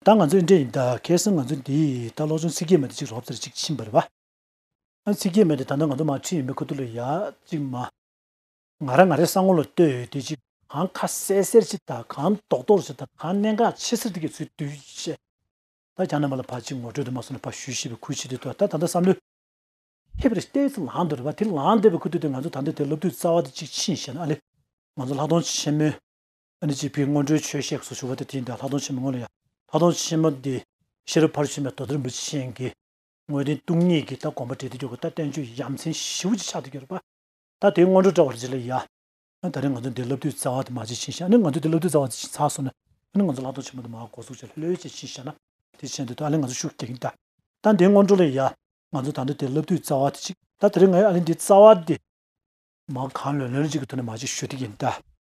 ད་ང་ཚོའི་འདྲེ་ཡིན་ད་གལ་སྲིད་ང་ཚོ་འདིས་ད་ལོག་ཅུང་ཚིག་སྐྱེལ་མེད་དུ་གཅིག་རོབ་ཙེར་གཅིག་ཕྱིན་པར་བ། ཨ་ཚིག་སྐྱེལ་མེད་དེ་ད་ནང་ང་ཚོ་མ་འཁྲིད་ཡིན་པས་ཁོ་ཐུགས་ལ་ཡག་གཅིག་མ། ང་ར་ང་རེ་ས་ངོ་ལ་ལྟོས་ཡོད་དུས་གཅིག་གང་ཁ་གསལ་གསལ་གཅིག་ད་གང་རྡོག་རྡོག་གཅིག་ད་གང་གནད་འགག་ཆེ་སེར་ཐིག་གི་ཚུལ་དུས་བཤད། ད་གྱ་ནང་པ་ལ་ཕ་གཅིག་ངོ་སྤྲོད་དུ་མ་སོང་ན་ཕ་ཞུས་ཞེས་པའི་ཁུལ་བྱེད་དུས་ད་ད་ད་བསམ་བློའི། མཁས་པའི་རི་ལྟའི་ཚུལ་ལངས་འདོད་རེད་བ་དེ་ལངས་འདོད་པའི་ཁུལ་དུས་དེ་ང་ཚོ་ད་འདི་དེ་སློབ་དུས་རྩ་བ་དེ་གཅིག་ཕྱིན་བཤད་ན་ཨ་ལེ། ང་ཚོ་ལྷག་མཐོང་ཆེན་མོའི། ཨ་ནི་སྤྱི་ཕན་སྔོན་འགྲོའི་ཆོས་གཤེགས་སུ་ཞུ་བ་དེ་དེའི་འདས་ལྷག་མཐོང་ཆེན་མོ་སྔོན་ལ་ཡང་ལྷག་མཐོང་ཆེན་མོ་འདི་ཤེར་ཕར་ཕྱིན་པའི་མདོ་རྩེར་འབུལ་བྱེད་གཤེན་གྱི་དངོས་བསྟན་སྟོང་ཉིད་ཀྱི་ལྟ་གོམས་པ་འབྲས་དེ་འགྱུར་གྱི་ལྟ་བསྟན་བཅོས་ཀྱི་ཡ་མཚན་བཞི་བོ་གཅིག་ཆར་དུ་གྱུར་པ་ད་དེའི་སྔོན་འགྲོ་བཀྲལ་བར་བགྱི་ལ་ཡ། ད་རེས་ང་ཚོ་འདི་བསླབ་དུས་རྩ་བ་དུ་མ་ཅི་བྱིན་ཞེ་ཨ་ནི་ང་ཚོ་འདི་བསླབ་དུས་རྩ་བ་ཅི་བྱིན་ཚར་སོང་ན་ཨ་ནི་ང་ཚོ་ལྷག་མཐོང་ཆེན་མོ་དུ་མ་གོ་གཟུགས་ཅི་ལྷོད་ལྷོད་ཅིག་བྱིན་ཞེ་ན་དེ་བྱིན་དེ་དུ་ཨ་ལི་ང་ཚོ་ཤུགས་རྒྱག་གིན་གདའ། ད་འདིའི་སྔོན་འགྲོ་ལ་ཡ། ང་ཚོ་ད་འདི་དེ་བསླབ་དུས་རྩ་བ་དེ་གཅིག་ད་དེ་རེས་ང་ཨ་ལི་འདི་རྩ་བ་དེ། མ་གང་ལོན་ལོན་ཅིག་གི་དུ་ནི་མ་ཅིག་ཞུ་དེ་ཡིན་གདའ།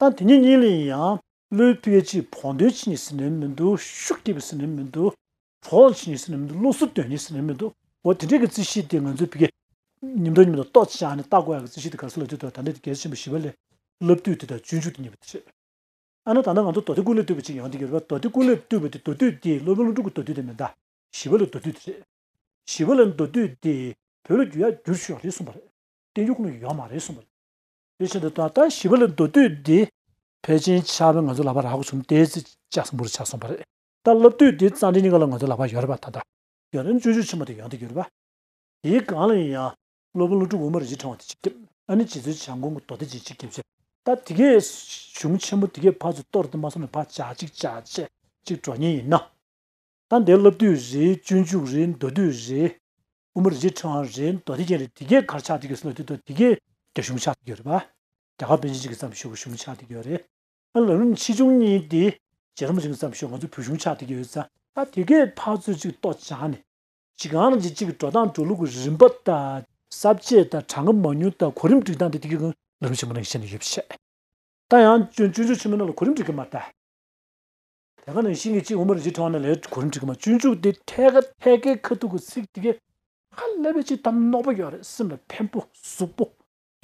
ད་དེ་གཉིས་གཉིས་ལས་ཡིན་ཡང། བློའི་དཔེ་གཅིག་བོགས་འདོན་བྱེད་ནི་ཟེར་ནས་མི་འདུག་ཤུགས་སྐྱེད་པའི་ཟེར་ནས་མི་འདུག་བོགས་འབྱིན་ནི་ཟེར་ནས་མི་འདུག་བློ་གསོ་དོན་ནི་ཟེར་ནས་མི་འདུག་འོ་དེ་འདྲའི་གི་རྩི་གཤིས་དེ་ང་ཚོས་བི་གེ། ཉིན་ཐོག་ཉིན་མོ་དང་ཏོག་ཅིག་ཅང་ནི་བརྟག་དགོས་ཡ་གི་རྩི་གཤིས་དེ་ག་སུ་ལ་བསྡུས་ཐུབ་ད་ནི་དེ་གལ་ཆེན་པོ་ཞི་བ་ལས། སློབ་བསྡུས་དེ་དང་སྤྱོད་འཇུག་དེ་གཉིས་པོ་དེ་རེད། ཨ་ན་ད་ནི་ང་ཚོ་མདོ་སྡེ་ཀུན་ལས་བཏུས་པ་ཅིག་ཡང་དེ་གི་རེད་བ་མདོ་སྡེ་ཀུན་ལས་བཏུས་པ་དེ་མདོ་བསྡུས་དེ་སློབ་དཔོན་སློབ་ཕྲུག་གི་མདོ་བསྡུས་དེ་མི་གདའ། ཞི་བ་ལ་མདོ་བསྡུས་དེ་རེད། ཞི་བ་ལ་མདོ་བསྡུས་དེ་བོད་ལ་བསྒྱུར་ཡ་བསྒྱུར་ཆོག་རེད་གསུངས་པ་རེད། བསྟན་འགྱུར་ཁོ་ན་ཡོག་མ་རེད་གསུངས་པ་རེད། དེ་བཞིན་དུ་ད་ལྟ་ཞི་བ་ལ་མདོ་སྡུད་འདི་ཕལ་ཆེན་ཆགས་པས་ང་ཚོ་ལག་པ་རག་གོ་གསུམ་ཏའི་ཚེ་ལྕགས་སྲིན་པོ་རུ་ཆགས་སོང་བ་རེད། ད་སློབ་དུས་འདི་གཙང་སྦྲའི་སྙིང་ག་ལ་ང་ཚོའི་ལག་པ་ཡོད་རེད་པ་ད་ལྟ། རྒྱལ་རོན་སྤྱོད་འཇུག་ཆེན་མོ་དེ་ཡོང་དུ་གྱུར་པ། དེའི་སྒང་ལ་ཡིན་ཡང་སློབ་དཔོན་ཀླུ་སྒྲུབ་དབུ་མ་རིན་ཆེན་ཕྲེང་བ་དེ་གཅིག་སྐྱབས་ཨ་ནི་རྗེ་བཙུན་བྱམས་མགོན་སྐུ་མདོ་སྡེ་བརྒྱད་གཅིག་སྐྱབས་ཚེ་ད་དེ་གའི་གཞུང་ཆེན་མོ་དེ་གའི་ཕ་ཚོས་གཏོར་དེ་མ་སོང་ནས་ཕ་བྱ་གཅིག་བྱ་ཆེ་གཅིག་འགྲོ་ཉེན་ཡིན་ན། ད་འདི་སློབ་དུས་རེད་སྤྱོད་འཇུག་རེད་མདོ་དུས་རེད་དབུ་མ་རིག་འབྱེད་དྲང་རེད་མདོ་སྡེ་རྒྱན་རེད་དེ་གའི་གར་ཆགས་འདི་གའི་སྲོལ་དེ་མདོ་དེ་གའི་རྒྱ་གཞུང་ཆགས་འདི་གའི་རེད་པ་རྒྱ་གར་པཎ་ཆེན་གཅིག་གི་བརྩམས་ཆོས་ཀྱི་གཞུང་ཆགས་འདི་གའི་རེད་ཨ་ལ་རུ་ཆེ་ཆུང་གཉིས་ཏེ་རྗེ་རིན་པོ་ཆེ་གི་བརྩམས་ཆོས་ང་ཚོའི་བོད་གཞུང་ཆགས་འདི་གའི་རེད། ད་དེ་གའི་འཕགས་ཚུལ་གཅིག་རྟོགས་བྱ་ནི། གཅིག་གང་རང་བྱེད་གཅིག་གི་འགྲོ་སྟངས་འགྲོ་ལུགས་ཀྱི་རིམ་པ་དང། གསར་བརྗེ་དང་གྲངས་ཀ་མང་ཉུང་དང་གོ་རིམ་སྒྲིག་སྟངས་དེ་དེ་གའི་ཨ་ལ་རུ་ཆེན་མོ་རྣམས་ཤེས་ནི་ཡོད་པ་ཤེས། ད་ཡང་སྤྱོད་འཇུག་ཆེན་མོ་རྣམས་ལ་གོ་རིམ་སྒྲིག་གི་མ་རྟ། དེ་ག་ནང་བཞིན་གྱི་གཅིག་དབུ་མར་རྗེས་འཕྲེང་བ་ནང་ལས་གོ་རིམ་ཁྲིད་ཀྱི་མ་བཅུ་འཇུག་སྟེ་ཐད་ཀ་ཐད་ཀའི་ཁ་ཐུག་གི་ཚིག་དེ་ག་ཧ་ལས་པའི་ཕྱིར་དམ་གནོག་པོ་ཡོད་རེད་སེམས་ལ་ཕན་པོ་གཟུགས་པོ།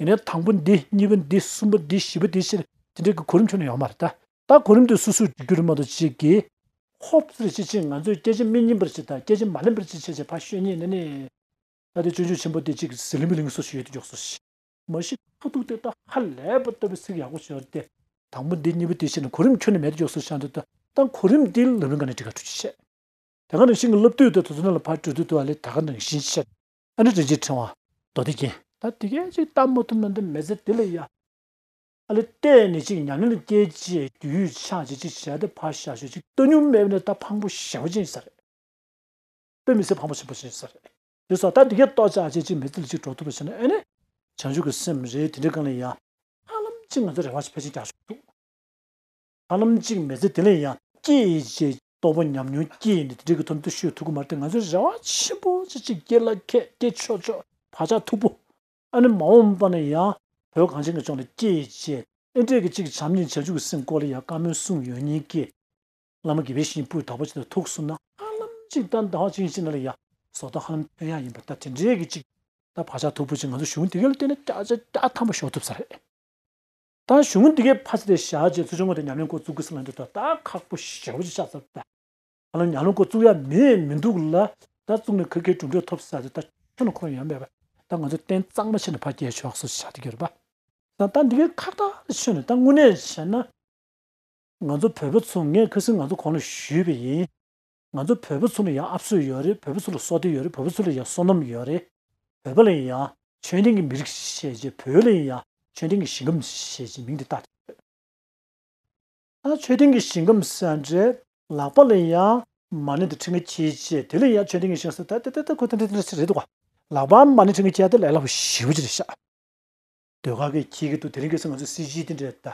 ཡིན་ནའི་དང་པོ་འདི་གཉིས་པ་འདི་གསུམ་པ་འདི་བཞི་པ་དེའི་ཕྱིར་དེ་འདྲའི་གི་གོ་རིམ་ཆུང་ནས་ཡོང་མ་རེད་ད་ལྟ་གོ་རིམ་དེ་སུ་སུ་འཇུག་རྒྱུ་རེད་མ་གཏོགས་ཅིག་གིས་ཧོབ་ཙེ་རེ་བྱེད་ཕྱིར་ང་ཚོས་སྐད་ཆ་མི་སྙན་པར་བྱེད་དང་སྐད་ཆ་མ་ལེན་པར་བྱེད་བྱས་བྱས་ཕ་ཤོད་ཉེས་ནས་ནས། ད་དེ་སྤྱོད་འཇུག་ཆེན་པོ་དེ་གཅིག་གིས་ཟི་ལིང་པི་ལིང་སོ་ཞིག་ཡོད་དེ་འཇོག་སོ་ཞིག། མ་གཞི་ཐོག་ཐུག་སྟེ་ད་ཧ་ལས་པ་ལྟ་བུའི་ཚིག་ཡག་པོ་བྱོས་ཏེ། དང་པོ་འདི་གཉིས་པོ་དེ་བྱས་ནས་གོ་རིམ་ཁྱོན་ནས་མེད་དུ་འཇོག་སྲོལ་ཤར་འདུག་ད་ལྟ་གོ་རིམ་དེའི་ལག་ལེན་ཁ་ནས་ཁྲི་ཁ་ཁྲོ་ཆེ་བྱས། དེ་སྔ་རང་ཞིང་གི་སློབ་དུས་དང་དུས་ཚོད་ནང་ལ་ཕར་བྲོས་དུས་དུ་ཨ་ལས་ད་ག་ནང་བཞིན་བཤད། ཨ་ནི་དྲིན་ཅན་ཕྲེང་བ་མདོ་སྡེ་རྒྱན། ད་དེ་སྐད་ཅིག་བལྟ་མ་ཐུབ་ན་འདི་མེ་ཟད་དེ་ལས་ཡག། ཨ་ལས་བལྟས་ནས་ཅིག་ཉམས་ལེན་བསྐྱལ་རྗེས་རྒྱུས་ཡོད་ཆགས་ཅིག་ཅིག་བྱས་ཏེ་ཕར་བཞག་ཞོར་ཅིག་སྟོད་སྨྱུག་མེད་པ་ནས་ད་ཕངས་པོ་ཞེན་པོ་ཅན་ཞིག་ཟེར། སྟོད་མི་ཟེར་ཕངས་པོ་ཞེན་པོ་ཅན་ཞིག་ཟེར། ཡོད་སོགས་ད་འདི་གས་རྟོགས་བྱ་ཅི་གཅིག་མི་ཚིག་གཅིག་གྲོགས་ཐུབ་པ་བྱས་ན་ཨེ་ནས། བྱང་ཆུབ་ཀྱི་སེམས་རེད་དེ་འདྲའི་སྐང་ལས་ཡང། ཧ་ལམ་གཅིག་ང་ཚོ་རེ་བ་ཕལ་ཆེར་རྒྱག་ཆོག། ཧ་ལམ་གཅིག་མི་ཚེ་དེ་ལས་ཡང། སྐྱེ་ཡི་རྗེས་རྟོགས་པ་ཉམས་མྱོང་སྐྱེ་ཡི་ནས་དེ་འདྲའི་གི་ཐུབ་འདུ་ཤོས་ཐུག་གི་མ་རེད་ང་ཚོ་རེ་བ་ཆེན་པོ་ཅི་གཅིག་སྐྱེ་ལ་ཁད་སྐྱེ་ཆོག་ཆོག་བག་ཆགས་འཐུག་པོ། ཨ་ནི་མ་འོངས་པ་ན་ཡང། བོད་གངས་ཅན་གྱི་ལྗོངས་ལ་སྐྱེ་ཡི་རྗེས་ཨེ་འབྲས་གི་གཅིག་བྱམས་སྙིང་བྱང་ཆུབ་ཀྱི་སེམས་བཀོད་ལ་ཡང་བཀའ་མོལ་གསུངས་ཡོད་ཉིན་སྐད། བླ་མ་དགེ་བའི་བཤེས་སྤུའི་བདག་པོ་ཅིག་དང་ཐུགས་གསུམ་ན་ཧ་ལམ་ཅིག་དང་ཟླ་བ་གཅིག་ཕྱིན་ན་ལ་ཡ་སོགས་དང་ཧ་ལམ་དོན་ཡག་ཡིན་པ་ལྟར་དེ་འདྲའི་གི་ཅིག་ད་བག་ཆགས་འཐུག་པོ་ཅིག་ང་ཚོ་གཞུང་དེ་གའི་ལ་བལྟས་ན་སྐྱ་ཆ་སྐྱ་ཐམ་པོ་ཞོག་ཐུབ་ས་རེད་ད་གཞུང་དེ་གའི་ཕ་ཚ་དེ་བཞག་རྗེས་ཚུར་ཆུང་ངུ་དེ་ཉམས་ལེན་སྐོར་བཙུགས་དགོས་ས་ལ་འདིར་ད་ད་ཁག་པོ་ཞེ་བོ་ཅིག་ཆགས་ཚར་ད་ཧ་ལམ་ཉམས་ལེན་སྐོར་བཙུགས་ཡ་མེད་མི་འདུག་ལ་ད་བཙུགས་ནས་ག་གེ་གྲུབ་འབྲས་ཐོབ་ས་རེད་ད་ཁྱོད་ལ་ཁོམ་ཡ་མེད་པ་ད་ང་ཚོ་རྟེན་གཙང་མ་ཕྱེ་ནས་ཕ་རྒྱལ་ཕྱོགས་སུ་ཆ་དེ་གའི་རུ་པ་ད་ད་འདི་གའི་ཁ་བརྡ་ལ་ཕྱིན་ནས་ད་དངོས་གནས་བྱས་ན། ང་ཚོ་བོད་པ་ཚོ་ངས་ཁ་སིང་ང་ཚོ་གོང་ལ་ཞུས་པ་ཡིན། ང་ཚོ་བོད་པ་ཚོ་ལ་ཡང་ཨབ་སོད་ཡོད་རེད་བོད་པ་ཚོ་ལ་སྲོག་ཐུན་ཡོད་རེད་བོད་པ་ཚོ་ལ་ཡང་བསོད་ནམས་ཡོད་རེད། བོད་པ་ལ་ཡང་ཆོས་ལྡན་གྱི་མི་རིགས་ཞེས་བརྗོད་བོད་ལ་ཡང་ཆོས་ལྡན་གྱི་ཞིང་ཁམས་ཞེས་ཀྱི་མིང་དེ་བཏགས་ཀྱི་ཡོད། ད་ཆོས་ལྡན་གྱི་ཞིང་ཁམས་ཟེར་འདྲའི་ལག་པ་ལ་ཡང་མ་ཎི་དང་ཁྲི་ཀ་ཁྱེད་ཅེས་དེ་ལ་ཡང་ཆོས་ལྡན་གྱི་ཞིང་ཟེར་ད་དེ་ད་ཁོ་ཐེངས་ཐེངས་ཤིག་རེད་འདུག་ག་ལག་པའམ་མ་ཎི་ཁྲི་ཀ་ཁྱེད་དེ་ལས་སླ་པོ་ཞིག་བྱེད་ཤག། ཟློས་གར་གྱི་ཁྱེད་ཀྱི་འདུག་དེ་རིང་གི་སེ་ང་ཚོའི་སྲིད་སྤྱི་དེ་འདྲ་ད།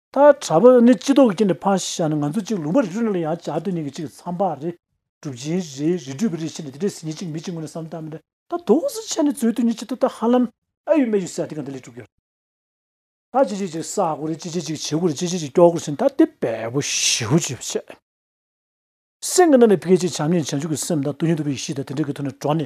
ད་དྲ་བ་ནི་སྤྱི་ལྡོག་གི་རྐྱེན་ནི་ཕ་ཞེས་བྱ་ནི་ང་ཚོ་གཅིག་ལུང་པར་རི་རུ་ནི་ལ་ཡང་བྱ་དོན་གཉིས་ཀྱི་གཅིག་གི་མཚམས་པ་རེ་གྲུབ་ཅིང་རེ་རེ་གྲུབ་པའི་རེ་ཤེས་ནི་དེ་འདྲའི་ཟིན་གྱི་གཅིག་མི་གཅིག་ངོས་ནས་བསམ་དམ་ལས། ད་དུང་གཟི་བྱས་ནི་རྩོད་དུས་གཉིས་ཆེད་དུ་ད་ཧ་ལམ་ཨ་ཡུ་སྨད་ཡུ་སྲས་དེ་ག་འདི་ལས་གྲུབ་ཀྱི་རེད། ད་ཅི་བྱེད་ཅིག་བསགས་དགོས་རེད་ཅི་བྱེད་ཅིག་བྱེད་དགོས་རེད་ཅི་བྱེད་ཅིག་སྐྱོ་དགོས་རེད་ད་དེ་བས་པོ་ཞེ་བོ་བྱེད་པ་ཆེ། སེམས་ཀྱི་ནང་ནས་ཕལ་ཆེར་བྱམས་སྙིང་བྱང་ཆུབ་ཀྱི་སེམས་དང་དུ་ཡིན་དུ་བའི་གཤིས་དང་དེ་འདྲ་གི་ཐོག་ནས་གྲོགས་ནི་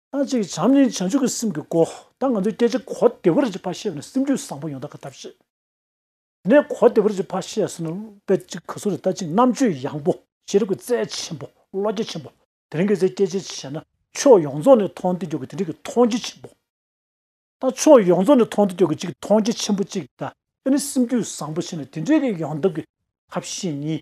ཨ་ཅེ་བྱམས་ནི་བྱང་ཆུབ་ཀྱི་སེམས་ཀྱི་སྒོ་ད་ང་ཚོས་སྐད་ཆ་གོ་བདེ་བོར་གཅིག་ཕར་བཤད་ནས་སེམས་རྒྱུད་བཟང་པོ་ཡོང་ཐབས་ག་ད་བཤད། ནས་གོ་བདེ་བོར་གཅིག་ཕར་བཤད་ཟེར་ན་དཔེ་གཅིག་ག་ཟུར་དུ་ལྟ་གཅིག་རྣམ་དཔྱོད་ཡངས་པོ་ཤེས་རིག་གི་རྩལ་ཆེན་པོ་བློ་རྒྱ་ཆེན་པོ་དེ་རིང་གི་ཚེ་སྐད་ཆ་བཤད་ན་ཕྱོགས་ཡོངས་རྫོགས་ནས་མཐོང་ཐོས་རྒྱུག་གི་དེ་འདྲི་གི་མཐོང་རྒྱ་ཆེན་པོ་དང་ཕྱོགས་ཡོངས་རྫོགས་ནས་མཐོང་ཐོས་རྒྱུག་གི་གཅིག་མཐོང་རྒྱ་ཆེན་པོ་གཅིག་དང་དཔེ་ནི་སེམས་རྒྱུད་བཟང་པོ་ཆེ་ནས་དེ་འདྲི་གི་ཡོང་ཐབས་ཀྱི་ཐབས་ཤེས་གཉིས་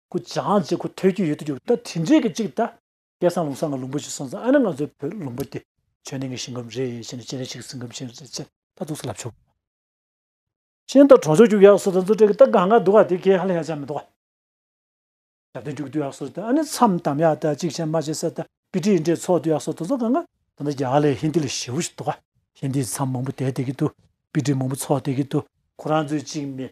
སྐུ་བཅངས་རྗེས་ཁོ་ཐོས་རྒྱུ་ཡོད་དུ་གྱུར་ད་དེ་འདྲའི་གི་གཅིག་ད། སྐལ་བཟང་ལུང་བཟང་གི་ལུང་པོ་ཞིག་སོང་ཙང་ཨ་ན་ང་ཚོའི་བོད་ལུང་པོ་འདི་ཆོས་གླིང་གི་ཞིང་ཁམས་རེད་ཞེས་ནས་སྤྱན་རས་གཟིགས་སེང་གམ་ཤིང་རེད་ཅེས་ད་གཙུག་ས་ལབ་ཆོག་གི། ཤིང་རྟ་གྲོང་ཆོག་རྒྱུག་ཡག་སོ་ད་མཛོ་དྲེག་གི་རྟ་གང་གང་འདུག་ག་དེ་གས་ཧ་ལས་ཡག་ཅག་མི་འདུག་ག། ཞབས་བརྟན་རྒྱུག་དུས་ཡག་སོ་ད་ཨ་ནི་མཚམས་དམ་ཡག་ད་གཅིག་ཤན་མ་བྱེད་ས་ད་པི་ཏྲི་ཡི་འདྲེ་ཚོགས་དུས་ཡག་སོ་ད་མཛོ་གང་གང་ད་ནི་རྒྱ་གར་ལས་ཧིན་དི་ལས་ཞེ་བོ་ཞིག་འདུག་ག་ཧིན་དི་ཡི་མཚམས་མང་པོ་དེད་དེ་གི་འདུག་པི་ཏྲི་མང་པོ་ཚོགས་དེ་གི་འདུག་ཁོ་རང་ཚོའི་གཅིག་མེད་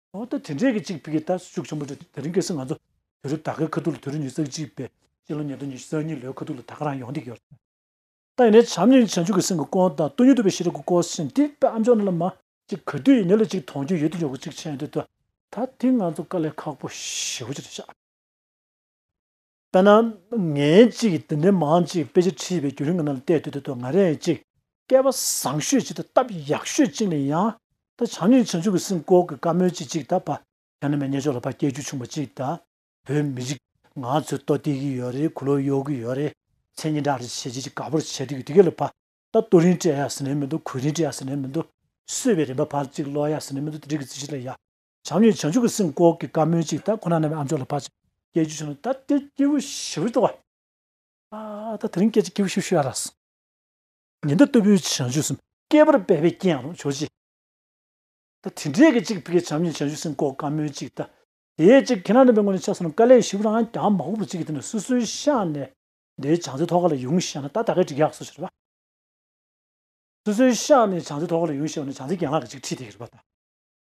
འོ་ད་དེ་འདྲས་ཀྱི་གཅིག་ཕི་གི་ད་ཤུགས་ཆེན་པོ་འགྲོ་དེ་རིང་གེ་སེ་ང་ཚོ་དེ་རུ་ད་གའི་ཁ་ཐུག་ལ་དེ་རུ་ཉིས་བརྩེགས་གཅིག་པས་ཕྱི་ལོ་ཉིས་སྟོང་ཉི་ཤུ་རྩ་གཉིས་ལོའི་ཁ་ཐུག་ལ་ད་ག་རང་ཡོང་དེ་གི་ཡོད་རེད། ད་ཡིན་ནའི་བྱམས་སྙིང་བྱང་ཆུབ་ཀྱི་སེམས་ཀྱི་སྐོར་དང་སྟོད་ཉུལ་དུ་བའི་ཤེས་རབ་ཀྱི་སྐོར་བཞིན་དེ་ད་ཨ་མཆོག་ནི་ལ་མ་གཅིག་ག་དུས་ཡིན་ནའི་ལ་གཅིག་མཐོང་རྒྱུ་ཡོད་དེ་འཇོག་གི་གཅིག་ཆེན་དེ་ད་ད་དེ་ང་ཚོ་དཀའ་ལས་ཁག་པོ་ཞེ་བོ་ཅི་རེད་ཤག། དཔེར་ན། ངའི་ཅིག་འདི་འདྲའི་མང་ཅིག་དཔེ་ཆ་བྲིས་པའི་རྒྱུན་རིང་གི་ནང་ལ་བལྟས་དུས་དེ་དུས་ང་རེད་ཅིག། སྐལ་བ་བཟང་ཤོས་ཅིག་དང་སྟབས་ཡག་ཤོས་ཅིག་ལ་ཡང། ད་བྱང་སྙིང་བྱང་ཆུབ་ཀྱི་སེམས་ཀོག་གི་བཀའ་མོལ་ཅིག་ཅིག་དང་བ་ཡང་ན་མེ་སྙེད་ཕྱོགས་ལ་བ་སྐྱེལ་རྒྱུ་ཆུང་བ་ཅིག་དང། བོད་མི་རིགས་ང་ཚོས་ལྟོ་བསྟེར་གྱི་ཡོད་རེད་གུ་ལོ་གཡོག་གི་ཡོད་རེད། མཚན་སྙན་གྲགས་རེད་བྱས་རྗེས་ཅིག་དགའ་པོར་བྱས་འགྲིག་གི་དེ་ག་ལ་བ། ད་ལྟོ་རིང་སྤྲད་ཡ་ཟེར་ནའི་མི་འདུག་གུས་རིང་སྤྲད་ཡ་ཟེར་ནའི་མི་འདུག། གསོད་པའི་རིན་པ་བར་ཅིག་སློག་ཡ་ཟེར་ནའི་མི་འདུག་དེ་འགྲིག་གི་རྩིས་ཆེ་ལ་ཡ། བྱམས་ཡོད་བྱང་ཆུབ་ཀྱི་སེམས་བསྐོར་གྱི་བཀའ་མོལ་ཅིག་ད་ཁོ་ན་རྣམས་ཨ་མཆོག་ལ་ཕར། སྐད་ཅིག་བྱུང་ན་ད་དེ་སྐྱེས་བུ་ཞི་བའི་ལྟོ་བ། ཨ་ད་དེ་རིང་སྐད་ཅིག་སྐྱེས་བུ་ཞི་བ་ཞུ་ཡ་རགས། ཉི་ཟླ་ལྟ་བུའི་བྱང་ཆུབ་སེམས། བསྐལ་པར་འབད་པའི་རྐྱེན་ཡང་རུང་ཆོག་ཅི། ད་དེ་འདྲའི་སྐད་ཅིག་ཕིགས་བྱམས་ཡོད་བྱང་ཆུབ་སེམས་བསྐོར་བཀའ་མོལ་ཅིག་ད། དེ་ཅིག་ཁྱེད་རང་རྣམ་པའི་སྔོན་ལ་ཕྱག་སོང་ན་དཀའ་ལས་ཞི་བུ་རང་ཡང་གྱང་མ་ཧུབ་པོ་ཅིག་གི་དེ་ནས་སོ་སོའི་ཤངས་ནས་དེའི་བྱང་རྩེ་ཐོག་ཁ་ལ་ཡོང་ཤེས་ན་ད་ད་གའི་འགྲིག་ཡག་སོ་ཞེས་རེད་པ། སོ་སོའི་ཤངས་ནས་བྱང་རྩེ་ཐོག་ཁ་ལ་ཡོང་ཤེས་པ་ན་བྱང་རྩེ་གྱང་ལག་གི་ཅིག་ཁྲིད་དེ་གི་རེད་པ་ད།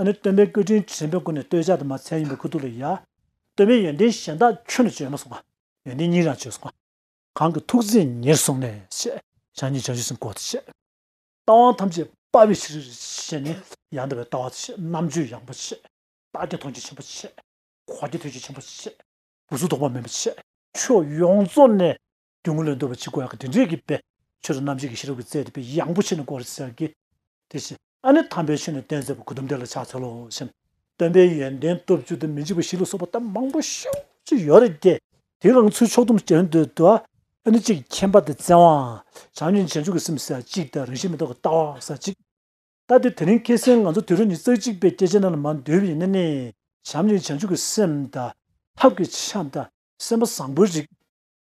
ཨ་ནི་སྟོན་པའི་སྐུ་དྲིན་དྲན་པའི་སྒོ་ནས་སྟོད་ཆ་དུ་མ་མཚན་ཡིན་པའི་ཁུ་ཐུག་ལ་ཡ། སྟོན་པའི་ཡོན་ཏན་གཞན་དག་ཁྱོད་ནི་བརྗོད་མ་སོང་བ། ཡོན་ཏན་གཉིས་རང་བརྗོད་སོང་བ། གང་གི་ཐུགས་རྗེས་ཉེར་བཟུང་ནས་བཤད། བྱང་ཉིད་བྱང་ཆུབ་སེམས་སྐོར་དུ་བཤད། རྟ་དབང་ཐམས་ཅད་དཔའ་བའི་ཕྱིར་བཤད། ནི་ཡང་འདུལ་བའི་ལྟ་བ་དུ་བཤད། རྣམ་དཔྱོད་ཡངས་པོ་བཤད། རྟགས་ཀྱི་མཐོང་ཆོས་ཆེན་པོ་བཤད། འཁོར་གྱི་ཐོས་བརྒྱུད་ཆེན་པོ་བཤད། བུ་གཟུགས་ཐོགས་པ་མེད་པ་བཤད། ཆོས་ཡོངས་རྫོགས་ནས་སྒྱུ་མ་ལས་འདོད་པ་ཆེ་དགོས་ཡག་གི་དེ་འདྲས་ཀྱི་པས་ཆོས་རྣམ་འབྱེད་ཀྱི་ཤེས་རབ་ཀྱི་རྩལ་དེ་པས་ཡང་པོ་ཆེ་ནས་གོར་ཟེར་གི། དེ་བཞིན་ཨ་ནི་དམ་པའི་ཆོས་ནི་གཏན་བརྫད་པ་ཁུ་དུམ་དེ་ལ་ཕྱག་འཚལ་ལོ་ཞེན། སྟོན་པའི་ཡོན་ཏན་སྟོབས་བཅུ་དང་མི་འཇིགས་པ་བཞི་ལ་སོགས་པ་གཏམ་མང་པོ་ཤུགས་ཀྱིས་ཡོད་རེད་ཀྱི། དེའི་དབང་ཚུལ་ཕྱོགས་བསྡོམས་བྱེད་འདོད་དུ་ཨ་ནི་གཅིག་མཁྱེན་པ་དང་བཙན་དབང། བྱང་ཆུབ་ཅན་ཆོས་ཀྱི་སེམས་ཟེར་བ་གཅིག་དང་རང་བཞིན་མི་རྟོག་གི་ལྟ་བ་ཟེར་བ་གཅིག། ལྟ་དེ་དེ་རིང་ཁྱེད་སེམས་ང་ཚོ་དུས་རབས་ཉིས་བརྩེགས་གཅིག་པའི་སྐྱེས་ཆེན་རྣམས་ལ་མ་འདོད་པའི་ཡིན་ན་ནི་བྱམས་ཀྱི་བྱང་ཆུབ་ཀྱི་སེམས་དང། ཐབས་ཀྱི་བྱམས་དང་སེམས་པ་བཟང་པོའི་རིགས།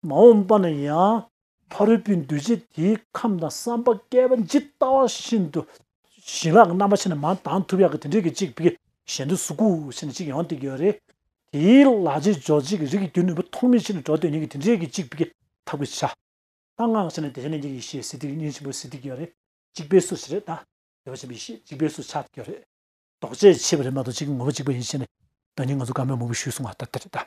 མ་འོངས་པ་ན་ཡང། ཕ་རོལ་པོའི་འདུ་བྱེད་དེའི་ཁམས་དང་བསམ་པ་བསྐལ་པ་ཇི་ལྟ་བ་བཞིན་དུ། བྱིན་རླབས་ཀྱི་རྣམ་པ་ཕྱེ་ནས་མ་དང་ཐུབ་ཡག་གི་དེ་འདྲའི་གི་གཅིག་བགེགས་གཞན་དུ་གཟུགས་སྐུ་ཕྱེ་ནས་གཅིག་ཡང་ཏིག་གི་རེ། དེའི་ལ་རྗེས་འཇོག་བྱེད་ཀྱི་རིགས་ཀྱི་རྒྱུ་ནུས་པ་ཐོགས་མེད་ཕྱེ་ནས་འགྲོ་དོན་གཉིས་ཀྱི་དེ་འདྲའི་གི་གཅིག་བགེགས་ཐབས་ཀྱི་ཆ། ལྷ་སྔགས་ཕྱེ་ནས་དེ་བྱེད་ནས་གཉིས་ཀྱི་ཞེས་སྲིད་ཏིག་གཉིས་ཆེན་པོ་སྲིད་ཏིག་གི་རེ། གཅིག་པའི་སུ་ཞེས་རེ་དང། དེ་བ་ཆེན་པོའི་ཞེས་གཅིག་པའི་སུ་ཆགས་ཀྱི་རེ། ལྡོག་བྱེད་ཕྱེ་བ་རེ་མ་གཏོགས་གཅིག་གི་ངོ་བོ་གཅིག་པ་ཡིན་ཕྱེ་ནས། དོན་གཉིས་ང་ཚོ་དགའ་མོས་མོ་བུ་ཞུས་གསུང་བ་ལྟར་དེ་རེ་དང།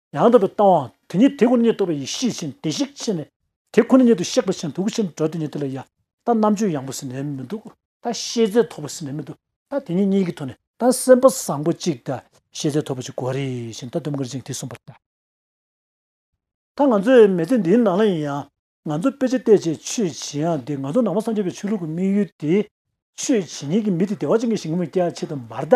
ཡང་དག་པའི་སྟོང་བ་དེ་ཉིད་དེ་ཁོ་ན་ཉིད་རྟོགས་པའི་ཡེ་ཤེས་བཞིན་བདེ་གཤེགས་ཕྱིན་ནས། དེ་ཁོ་ན་ཉིད་དུ་གཤེགས་པ་བཞིན་དུ་སྐུ་ཆེན་འགྲོ་དེ་ཉིད་དེ་ལ་ཡང་དག་རྣམ་དཔྱོད་ཡངས་པོ་ཟིན་ནས་མི་འདུག། ད་ཤེས་རྫས་ཐོབ་པ་ཟིན་ནས་མི་འདུག་ད་དེ་ཉིད་གཉིས་ཀྱི་ཐོག་ནས་ད་སེམས་དཔའ་བཟང་པོ་གཅིག་ད་ཤེས་རྫས་ཐོབ་པ་གཅིག་གོ་རེ་ཞེ་ད་དུམ་དཀར་འཇིང་དེ་གསུངས་པར་བལྟ། ད་ང་ཚོས་མེ་ལྕེ་འདིའི་ནང་ལ་ཡིན་ཡང་ང་ཚོ་དཔེ་ཆ་བལྟས་བྱས་ཆོས་བྱེད་ཡང་དེ་ང་ཚོ་ནང་པ་སངས་རྒྱས་པའི་ཆོས་ལུགས་ཀྱི་དམིགས་ཡུལ་དེ། ཆོས་བྱེད་ཉིད་ཀྱི་མི་དེ་བདེ་བ་ཅན་གྱི་ཞིང་ངོ་མ་སྐྱེ་བ་ཆེད་དུ་མར་ད།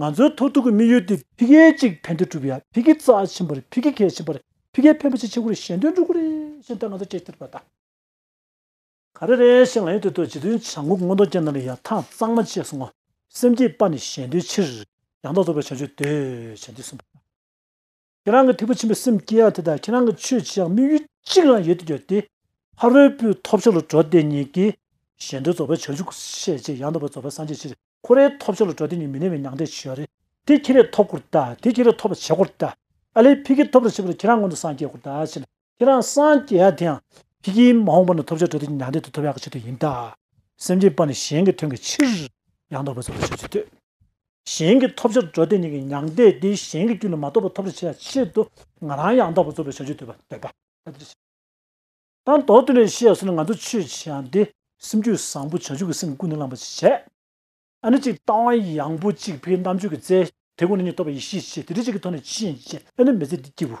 ང་ཚོའི་མཐོ་ཐུག་གི་དམིགས་ཡུལ་དེ་འཕེལ་རྒྱས་གཅིག་ཕན་བདེ་སྒྲུབ་ཡ་འཕེལ་རྒྱས་རྩ་ཆེན་པོ་རེད་འཕེལ་རྒྱས་གལ་ཆེན་པོ་རེད་འཕེལ་རྒྱས་ཕན་པོ་ཆེ་ཆེ་དགུ་རེད་གཞན་དོན་སྤྲུལ་སྐུ་རེད་ཞེས་ད་ང་ཚོ་ཁྱེད་ཐེར་པ་དང། ག་རེ་རེད་ཞེས་ང་ཡུལ་དེ་ཐོག་ཇི་དོན་བྱ་འགུག་སྔོན་གཏོང་ཅན་རྣམས་ལ་ཡང་ཐང་གཙང་མ་བཅས་སོང་ངོ། སེམས་བསྐྱེད་པ་ནི་གཞན་དོན་ཕྱིར། ཡང་དག་རྫོགས་པའི་བྱང་ཆུབ་འདོད་བྱེད་འདི་གསུངས་པ་དང། ཁྱེད་རང་གི་ཐེག་པ་ཆེན་པོའི་སེམས་བསྐྱེད་ཡག་དེ་དང་ཁྱེད་རང་གི་ཆོས་བྱེད་ཡག་དམིགས་ཡུལ་གཅིག་རང་ཡོད་དུ་གྱུར་ཏེ། ཕ་རོལ་པོའི་ཐོབ་ཆོས་ལ་འགྲོ་དེ་ཉིད་ཀྱིས། གཞན་དོན་རྫོགས་པའི་བྱང་ཆུབ་ཤས་ཆེ་ཡང་དག་པར་རྫོགས་པའི་སངས་རྒྱས་ཕྱིར་ཁོ་རའི་ཐོབ་ཆོས་ལ་འགྲོ་དེ་ཉིད་མི་གནས་པའི་མྱང་འདས་ཆོས་རེད། དེ་ཁྱེད་རས་ཐོབ་སྐོར་དང་དེ་ཁྱེད་རས་ཐོབ་པར་བྱེད་སྐོར་དང། ཨ་ལས་ཕི་ཁས་ཐོབ་པར་བྱེད་པ་ལ་ཁྱེད་རང་སྔོན་དུ་སངས་རྒྱས་སྐོར་དང་ཕྱིན་ཁྱེད་རང་སངས་རྒྱས་ཡག་དེའང་ཁྱེད་ཀྱིས་མ་འོངས་པ་ན་ཐོབ་བྱ་དྲོད་དེ་མྱང་འདས་དུ་ཐོབ་ཡག་གི་ཆེད་དུ་ཡིན་ད། སེམས་ཅན་པ་ནི་གཞན་གྱི་དོན་གྱི་ཕྱིར་ཡང་དག་པའི་ཚོགས་ལ་ཆོས་བྱེད་དུས། གཞན་གྱིས་ཐོབ་བྱ་དྲོད་དེ་ཉིད་ཀྱི་མྱང་འདས་དེ་གཞན་གྱི་རྒྱུད་ལ་མ་གཏོགས་པར་ཐོབ་བྱ་བྱ་ཡག་གི་ཆེད་དུ་ང་རང་ཡང་དག་པར་རྩོལ་བའི་བྱ་སྤྱོད་འདོད་པ་འདོད་པ། དང་ཐོག་ཏུ་ནས་ཤེས་ཡག་སོང་ནས་ང་ཚོ་ཆོས་བྱེད་ཡག་དེ་སེམས་རྒྱུད་བཟང་པོ་བྱང་ཆུབ་ཀྱི་སེམས་ཀུན་ནས་བསླངས་པ་ཞིག་བྱས། ཨ་ནི་གཅིག་ལྟ་བ་ཡངས་པོ་གཅིག་ཕའི་རྣམ་དཔྱོད་ཀྱི་རྩལ། དེ་ཀུན་ནས་ཉིད་རྟོགས་པའི་ཡེ་ཤེས་ཆེ་དེ་དེ་གཅིག་གི་ཐོག་ནས་ཕྱིན་ཅད་ཨ་ནི་མི་ཚེ་འདི་སྐྱིད་པོ།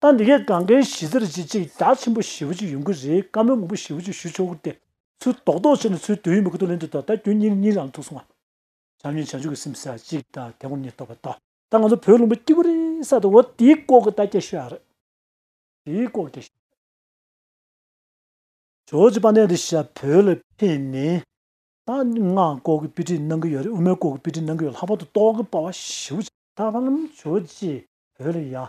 ད་འདི་གའི་གངས་རྒན་ཞི་ཟེར་གྱི་ཅིག་ཅར་ཆེན་པོ་ཞེ་བོ་ཅིག་ཡོང་གི་རེད་བཀའ་མོལ་མང་པོ་ཞེ་བོ་ཅིག་ཞུ་ཆོག་གི་དེ་ཚོའི་རྡོག་རྡོག་བྱས་ནས་ཚོའི་དོན་ཡོད་མེད་གོ་ཐོས་ལེན་དུས་ད་ལྟ་ཁྱོད་གཉིས་གཉིས་ལའང་ཐུག་སོང་ང། བྱམས་ཉིད་བྱང་ཆུབ་ཀྱི་སེམས་སེ་ཅིག་དང་དེ་གོང་གཉིས་ལྟོས་པ་དང་ད་ང་ཚོ་བོད་ལུང་པའི་སྐྱིད་པོ་རེད་ས་དེ་འོ་དེའི་ལྐོག་གི་ད་སྐད་ཤོད་ཨ་རེད། དེའི་ལྐོག་སྐད་ཤོད། ཇོ་ཇོ་པ་ནས་འདི་ཞབས་བོད་ལ་ཕེབས་ནས་ད་ང་ལྐོག་གི་དཔེ་ཁྲིད་གནང་གི་ཡོད་རེད་དབུ་མའི་ལྐོག་གི་དཔེ་ཁྲིད་གནང་གི་ཡོད་ལྷག་པར་དུ་ཏོག་གི་པ་བ་ཞེ་བོ་ཅིག་ད་ཕ་ལམ་ཇོ་ཅེས་བོད་ལ་ཡང་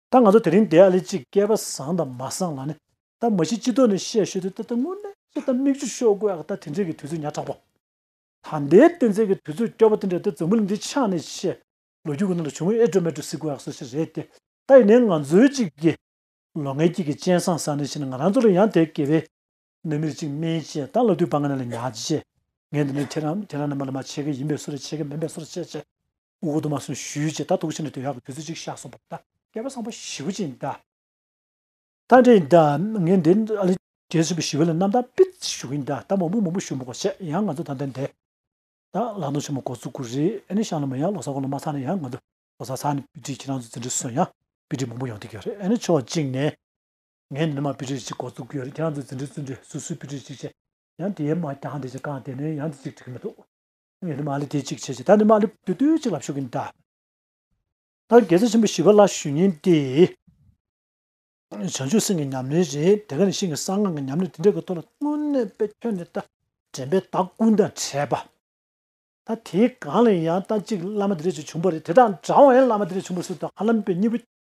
ད་ང་ཚོ་དེ་རིང་འདི་ཨ་ལེ་གཅིག་སྐལ་པ་བཟང་དང་མ་བཟང་ལ་ནི་ད་མ་ཤི་ཅི་ཐོག་ནས་བཤད་ཤོད་དུས་ད་ད་དངོས་གནས་ཅི་ད་མིག་ཆུ་ཤོར་དགོས་ཨ་ཁ་ད་དེ་འདྲས་ཀྱི་དུས་ཚོད་ཉག་དྲག་པོ། ད་འདའི་བསྟན་རྩལ་གྱི་དུས་ཚོད་སྐྱོ་པོ་དེ་འདྲས་ད་འཛུམ་མུལ་འདི་ཆགས་ནས་བཤད་ལོ་རྒྱུས་ཀྱི་ནང་དུ་བྱུང་བའི་ཨེ་སྒྲོལ་མེ་སྒྲོལ་སྲིད་དགོས་ཨ་སོགས་ཤིག་རེད་དེ་ད་ཡིན་ནའི་ང་ཚོའི་གཅིག་གི་ལོ་ངའི་དཀྱིལ་གྱི་སྤྱན་བཟང་བཟང་ནས་བཞིན་ང་རང་ཚོ་ལ་ཡང་དེ་དགེ་བའི་ནད་མེད་ཅིག་སྨན་བཅས་ད་ལ་དུས་བག་ང་ན་ལ་ཉག་ཅིག་བྱས། ངས་འདི་ནས་ཁྱེད་རང་ཁྱེད་རང་རྣམ་པ་ལ་མ་བྱས་ཀི་ཡིན་པས་སུ་རེ་བྱས་ཀི་མིན་པས་སུ་རེ་བྱས་བྱས། དབུ་གུ་དུ་མ་སོན་ཞུས་བྱས་ད་དུག་ཆེན་ནས་དོན་ཡག་གི་དུས་ཚོད་ཅིག་བཞག་སོང་བ་ད་སྐལ་པ་བཟང་པོ་ཞི་བུ་ཅན་ད། ད་འདྲེ་ཡིན་ད་ངས་འདི་ཨ་ལི་རྒྱལ་ཆེན་པོ་ཞི་བུ་ལ་རྣམ་ཐང་པིར་ཅིག་ཞུ་གི་ཡིན་ད་ད་མང་པོ་མང་པོ་ཞུ་མོ་གོ་བྱས་ཡང་ང་ཚོ་ད་འདི་འདས། ད་ལག་ནོར་ཆེན་མོ་གོ་ཚུག་གུ་རེ་ཨེ་ནི་ཤང་ལ་མ་ཡང་ལོ་སར་གོ་ལ་མ་ཚར་ན་ཡང་ང་ཚོ་ལོ་སར་ཚར་ནས་པིར་ཅིག་ཁྱེད་རང་ཚོ་འཛིན་གྲི་སོན་ཡང་པིར་ཅིག་མང་པོ་ཡོང་ཐུག་གི་རེད་ཨེ་ནི་ཕྱོགས་གཅིག་ནས། ངས་མི་མང་དཔེ་ཁྲིད་ཅིག་འགོ་བཙུགས་ཀྱི་ཡོད་ཁྱེད་རང་ཚོས་འཛིན་གྲྭའི་བཙུན་གྲོལ་སུ་སུའི་དཔེ་ཁྲིད་ཅིག་བྱེད། ཡང་དེའི་མ་རྐྱང་དེ་ཅིག་བཀང་དེ་ནས་ཡང་དེ་ཅིག་བྲི་གི་མི་འདུག། ངས་ནི་མ་ལི་དེ་ཅིག་བྱེད་ཅེས་ད་ནི་མ་ལི་དུས་དུས་གཅིག་ལ་ཞུ་གི་འདྲ། ད་རེས་རྒྱལ་སྲས་ཆེན་པོ་ཞི་བ་ལ་ཞུ་ཉེན་ཏེ། བྱང་ཆུབ་སེམས་ཀྱི་ཉམས་ལེན་རེད་དེ་ག་ནས་ཤིང་གི་གསང་སྔགས་ཀྱི་ཉམས་ལེན་དེ་འདྲ་གི་ཐོག་ལ་དངོས་གནས་དཔེ་ཁྱོན་ནས་ལྟ། དྲན་པའི་བདག་ཀུན་དང་བྲལ་བ། ད་དེའི་སྒང་ལ་ཡང་ལྟ་ཅིག་བླ་མ་དེ་འདྲ་ཅིག་བྱུང་བ་རེད་དེ་དང་འདྲ་བ་ཡང་བླ་མ་དེ་འདྲ་བྱུང་བ་སུ་དང་ཧ་ལམ་པའི་གཉིས་པོ་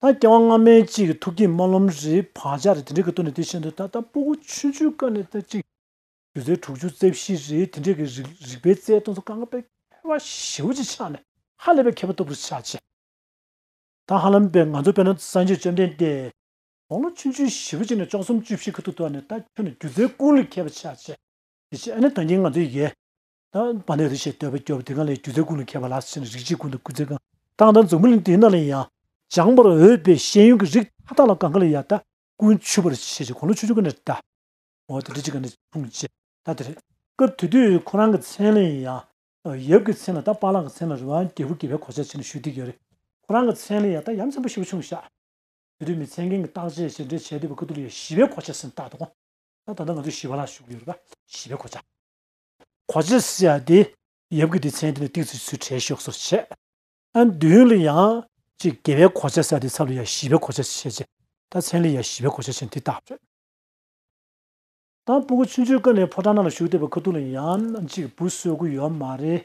ད་སྐྱེ་བ་སྔ་མའི་གཅིག་གི་ཐུགས་ཀྱི་རྨ་ལྷོམ་རི་བག་ཆགས་རེད་དེ་འདྲའི་གི་སྟོད་ནས་དེ་བཞིན་དུ་ད་ལྟ་སྤོ་བོ་ཆུ་མཇུག་དཀར་ནས་ད་གཅིག་དུས་ཚོད་དྲུག་ཅུ་རྩེ་བཞི་རེད་དེ་འདྲའི་གི་རིག་པའི་རྩལ་སྟོན་ཚོ་ཀ་ང་པའི་ཁ་བ་ཞེ་བོ་གཅིག་ཆགས་ནས་ཧ་ལས་པའི་མཁས་པ་སྟོབས་རིགས་ཆགས་ཆེ། ད་ཧ་ལམ་པའི་ང་ཚོ་དཔལ་ན་བསང་ཆོས་བཅོམ་ལྡན་འདས་དགོང་ལོ་ཆུ་མཇུག་ཞེ་བོ་གཅིག་ནས་བཅོ་གསུམ་བཅུ་བཞི་གི་ཐུག་ཐུག་ནས་ད་ཁྱོད་ནི་སྒྱུ་རྩལ་ཀུན་ལས་མཁས་པ་ཆགས་ཆེ། དེ་ཕྱིར་ཨ་ནི་ད་གིན་ང་ཚོའི་ཡེ་པ་ནས་རི་ཞེས་འདོད་པ་སྐྱོ་བ་དེ་གང་ལས་སྒྱུ་རྩལ་ཀུན་ལ་མཁས་པ་ལགས་སོ་ཞེས་ན་རིགས་གཅིག་ཀུན་ཏུ་ཀུན་རྩལ་གང། དང་དང་འཛུམ་གླིང་དེ་རྣམས་ལ་ཡང། སྦྱང་བར་འོས་པའི་ཤེས་ཡོན་གྱི་རིགས་མཐའ་དག་ལ་གང་ག་ལ་ཡང་ད་ཀུན་ཆུད་པར་བྱེད་ཅེས་གོ་ལོ་ཆུ་ཆུ་ག་ནས་བཀྲལ། འོ་དེ་འདྲ་ཅི་ག་ནས་འཁྲུངས་ཅེས་ད་དེ་རེད། སྐབས་དེ་དུས་ཁོ་རང་གི་མཚན་ལ་ཡང། ཡབ་ཀྱི་མཚན་ལ་ད་པཱ་ལགས་ཀྱི་མཚན་ལ་རི་བ་རྒྱལ་བུ་དགེ་བའི་གོ་ཆ་ཆེ་ནས་ཞུ་བསྡིགས་ཡོད་རེད། ཁོ་རང་གི་མཚན་ལ་ཡང་ད་ཡབ་མཚན་པོ་ཞེ་བོ་ཆུང་ཤག། དེ་དུས་མི་ཚད་མཁན་གྱི་བརྟག་དཔྱད་ཞེས་འདྲེ་བྱས་འདུས་པ་ཀ་ཏུ་ལི་ཡ་བཞི་བའི་གོ་ཆ་ཟིན་རྟགས་དང། ད་ད་ལྟ་ང་ཚོ་བཞི་བ་ལ་བཞུགས་ཡོད་རེད་པ་བཞི་བའི་གོ་ཆ། གོ་ཅི་སི་ཡ་དེ་ཡབ་ཀྱི་སྡེ་ཚན་དེ་ལ་གཏིགས་ཚུལ་ཚུལ་བྲལ་ཞོགས་སོགས་བྱས། ཨན་དུས་ཡུན་ལི་ཡང་ཅིག་དགེ་བའི་གོ་ཅི་སི་ཡ་དེ་ཚབ་ལི་ཡ་བཞི་པའི་གོ་ཅི་སི་ཡ་བྱས། ད་མཚན་ལི་ཡ་བཞི་པའི་གོ་ཅི་སི་ཡ་དེ་དག་བྲོས། དང་པོ་གུ་ཆུན་ཆུས་ཀ་ནས་ཕོ་བྲང་ནང་ལ་ཞུགས་ཏེ་བ་ཁུ་ཏུ་ལི་ཡང་ཅིག་བུ་གསོད་དགོས་ཡོད་མ་རེད།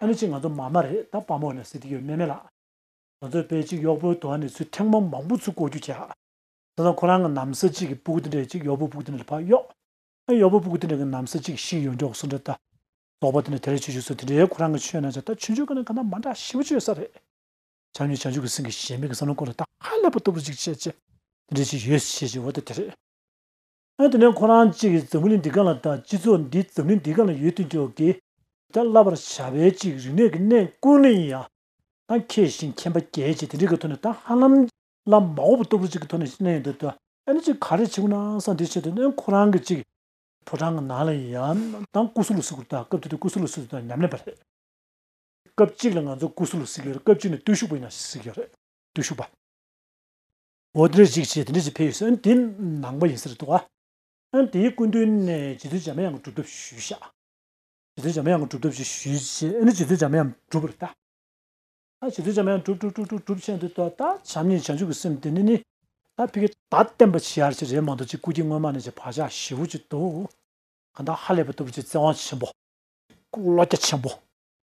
ཨ་ནུ་ཅི་ང་ཚོ་མ་མ་རེད་ད་དཔའ་མོ་ནས་ཟེར་གི་ཡོད་མེད་མེད་ལགས། ང་ཚོའི་དཔེ་གཅིག་གཡོག་པོའི་དོ་ན་ནས་ཚུལ་ཁྲིམས་མ་མང་པོ་ཚུལ་གོ་རྒྱུ་བྱས། དེ་དང་ཁོ་རང་གི་ནམ་སྲི་གཅིག་གི་པུག་ཏི་འདྲེ་གཅིག་གཡོག་པོའི་པུག་ཏི་འདྲེ་ལ་ཕར་གཡོགས། ཨ་གཡོག་པོའི་པུག་ཏི་འདྲེ་གི་ནམ་སྲི་གཅིག་ཤི་ཡོད་མགྱོགས་སུ་འདྲེ་ལྟ། རྫོགས་པ་དེ་ནས་དེ་རེ་ཆུ་ཆུ་སོ་དེ་འདྲེ་ཁོ་རང་གི་ཆོས་ན་བྱ་ད་ཆུ་ཆུ་གི་ནང་གི་ནམ་མ་འདྲ་ཞིམ་པོ་ཆུ་ཡོད་ས་རེད། བྱམས་ཉིད་བྱང་ཆུབ་ཀྱི་སེང་གེ་གཞན་མིག་གི་བསམ་བློ་སྐོར་ལ་ད་ཧ་ལས་པ་ལྟ་བུ་ཅིག་བྱས་རྗེས་དེ་འདྲེ་ཅིག་ཡོད་ཞེས་ཀྱི་འོ་ད་དེ་རེད། ཨ་དེ་ནས་ཁོ་རང་གཅིག་གིས་འཛམ་བུ་གླིང་འདི་གང་ལ་བལྟ་སྤྱི་ཚོགས་འདི་འཛམ་གླིང་འདི་གང་ལ་ཡོད་ཐུག་འགྱོ་གི། ད་བསླབ་པར་བྱ་བའི་ཅིག་རིག་གནས་ཀྱི་གནས་ཀུན་ལ་ཡིན་ཡ། ད་མཁས་ཤིང་མཁྱེན་པ་རྒྱས་ཅིག་དེ་འདྲི་གི་ཐོག་ནས་ད་ཧ་ལམ་ལ་མ་འོ་བུ་ལྟོ་བུ་ཅིག་གི་ཐོག་ནས་གནས་ཡོད་འདོད་དོ་ཨ་ནི་ཅིག་ག་རེ་བྱེད་དགོས་ན་ས་འདི་ཆེད་དུ་ནས་ཁོ་རང་གི་ཅིག་ཕོ་བྲང་གི་ནང་ལ་ཡིན་ཡ་ད་ཀུ་སུ་ལུ་སི་ཀུར་ད་སྐབས་དེ་དུས་ཀུ་སུ་ལུ་སི་ཀུར་ད་ཉམས་ལེན་པ་རེད། སྐབས་གཅིག་ལ་ང་ཚོ་ཀུ་སུ་ལུ་སི་ཀུར་སྐབས་གཅིག་ནས་བརྟུལ་ཞུགས་པ་ཡིན་ན་ཞིག་ཡོད་རེད་བརྟུལ་ཞུགས་པ། འོ་དེ་འདྲ་ཞིག་བྱས་དེ་འདྲ་ཞིག་ཕེབས་ཡོད་ཟེར་ཨན་དེ་ནང་པ་ཡིན་ས་རེད་འདུག་ཨ། ཨན་དེའི་སྐུ་མདུན་ནས་རྗེ་བཙུན་འཇམ་དབྱངས་སྒྲུབ་ཐབས་ཞུས་ཤག། རྗེ་བཙུན་འཇམ་དབྱངས་སྒྲུབ་ཐབས་ཞིག་ཞུས་རྗེས་ཨན་རྗེ་བཙུན་འཇམ་དབྱངས་སྒྲུབ་རེད་ད། ཨ་རྗེ་བཙུན་འཇམ་དབྱངས་སྒྲུབ་སྒྲུབ་སྒྲུབ་སྒྲུབ་བྱས་འདུག་ད་བྱམས་སྙིང་བྱང་ཆུབ་ཀྱི་སེམས་དེ་ནི་ནི། ད་ཕི་གེ། ད་བསྟན་པ་ཆེ་ཡར་ཆེ་རེད་མ་འདུག་ཅིག་སྐུ་སྐྱེ་སྔོན་མ་ནས་ཅིག་བག་ཆགས་ཞི་བོ་ཅིག་འདུག་གང་དག་ཧ་ལས་པ་ལྟ་བུ་ཅིག་བརྩེ་དབང་ཆེན་པོ། བློ་རྒྱ་ཆེན་པོ།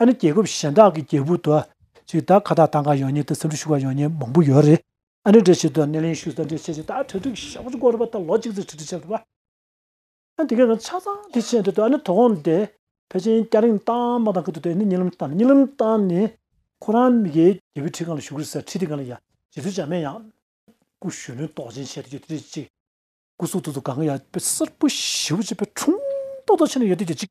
ཨ་ནི་རྒྱལ་ཁབ་གཞན་དག་གི་རྒྱལ་བུ་དུ་ཞིག་དག་ཁ་ཐག་དང་གང་ཡོང་ཉེ་དུ་སེམས་འཁྲུག་ཞུ་བ་ཡོང་ཉེ་མང་པོ་ཡོད་རེད། ཨ་ནི་འདྲི་བྱེད་དུ་སྣེ་ལེན་ཞུ་ས་འདྲི་བྱེད་ཅིག་དག་གྲ་སྒྲིག་ཞབས་སྐོར་རུ་བ་དང་ལོ་གཅིག་ཚེ་ཁྲི་ཁྲི་ཆགས་རུ་བ། ཨ་ནི་དེ་གའི་ནང་ཆ་ཚང་དེ་བྱེད་འདོད་དུ་ཨ་ནི་དོ་དགོང་དེ་ཕལ་ཆེན་སྐྱ་རེངས་བཏང་མ་བཏང་ཁུ་དུ་དེ་ནི་གཉིད་ལམ་བཏང་གཉིད་ལམ་བཏང་ནས་ཁོ་རང་མི་གའི་རྒྱལ་བུའི་ཁྲི་གང་ལ་ཞུ་གི་རེད་ས་ཁྲི་དེ་གང་ལ་ཡང་བྱེད་རྩོལ་བྱ་མེད་ཡང། སྐུ་གཞོན་ནུའི་དོགས་ཅན་བྱེད་དུ་ཡོད་དུ་ཡོད་ཅིག། སྐུ་གཟུགས་ཐུགས་སུ་གང་གི་ཡང་དཔེ་གསར་བུ་ཞེ་བོ་ཅིག་དཔེ་ཁྲུང་ཏོག་ཏོག་ཆེ་ན་ཡོད་དུ་ཡོད་ཅིག།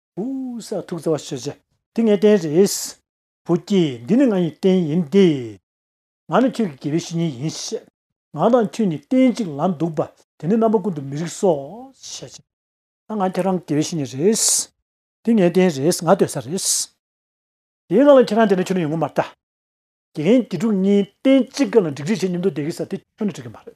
ཧཱུྃ་ས་ཐུགས་བརྩེ་བ་ཆེ་ཆེ། འདི་ངའི་རྟེན་རེད། བུ་སྐྱེས་འདི་ནི་ང་ཡི་རྟེན་ཡིན་ཏེ། ང་ནི་ཁྱོད་ཀྱི་དགེ་བའི་བཤེས་གཉེན་ཡིན། ང་དང་ཁྱོད་གཉིས་རྟེན་གཅིག་ལ་འདུག་པ་དེ་ནི་རྣམ་པ་ཀུན་ཏུ་མི་རིགས་སོ། ཞེས་བྱ། ད་ང་ཁྱེད་རང་གི་དགེ་བའི་བཤེས་གཉེན་རེད། འདི་ངའི་རྟེན་རེད་ང་སྡོད་ས་རེད། དེའི་ནང་ལ་ཁྱེད་རང་བསྡད་ན་ཁྱོད་ནི་ཡོང་གི་མ་རེད། དགེ་རྒན་དགེ་ཕྲུག་གཉིས་རྟེན་གཅིག་གི་ལ་འགྲིག་འགྲིག་བྱེད་མཉམ་དུ་བསྡད་ཀྱི་ས་དེ་ཁྱོད་ནི་འགྲིག་གི་མ་རེད།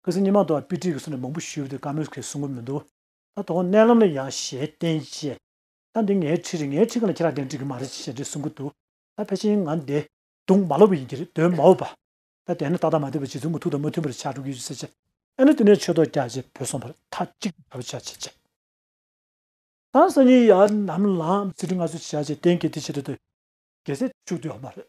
སྐུ་ཚེ་སྙན་མང་དུ་བ་པི་ཏི་གི་གསུང་ལས་མང་པོ་ཞུས་པ་དེ་ཀ་མོས་ཁས་གསུང་གི་མི་འདུག་ད་དོགས་གནས་ལམ་ལ་ཡང་ཞལ་བསྟན་གཅེས། ད་འདི་ངའི་ཁྲིད་རེད་ངའི་ཁྲིད་ག་ལ་ཁྱེད་རང་དེ་འདྲ་འགྲིག་གི་མ་རེད་ཅེས་ཞལ་འདྲི་གསུང་གི་འདུག་ད་ཕལ་ཆེན་ང་འདི་དུང་མ་ལོག་པ་ཡིན་གྱི་རེད་དོན་མའོ། བ་ད་དེ་ནི་ཏག་ཏག་མ་བསྡད་པར་རྗེ་བཙུན་གྱི་ཐུགས་དང་མ་མཐུན་པར་ཕྱག་དྲུག་གི་ཡོད་ཅེས་ཟེར་ཅི། ཨེ་ནི་དེ་ནས་ཆོས་ཐོག་རྒྱ་ཆེ་བོད་སོང་བར་མཐའ་གཅིག་ཏུ་བྱ་བ་བྱེད་ཅེས། ད་སང་ཉིན་ཡར་ནམ་ལངས་ཚེ་ཁྲི་ལྔ་བཟོ་བྱ་ཅེས་གཏན་འཁེལ་དེ་བྱེད་དོ་དེ་གེ་སེ་བཅུག་དུས་ཡོག་མ་རེད།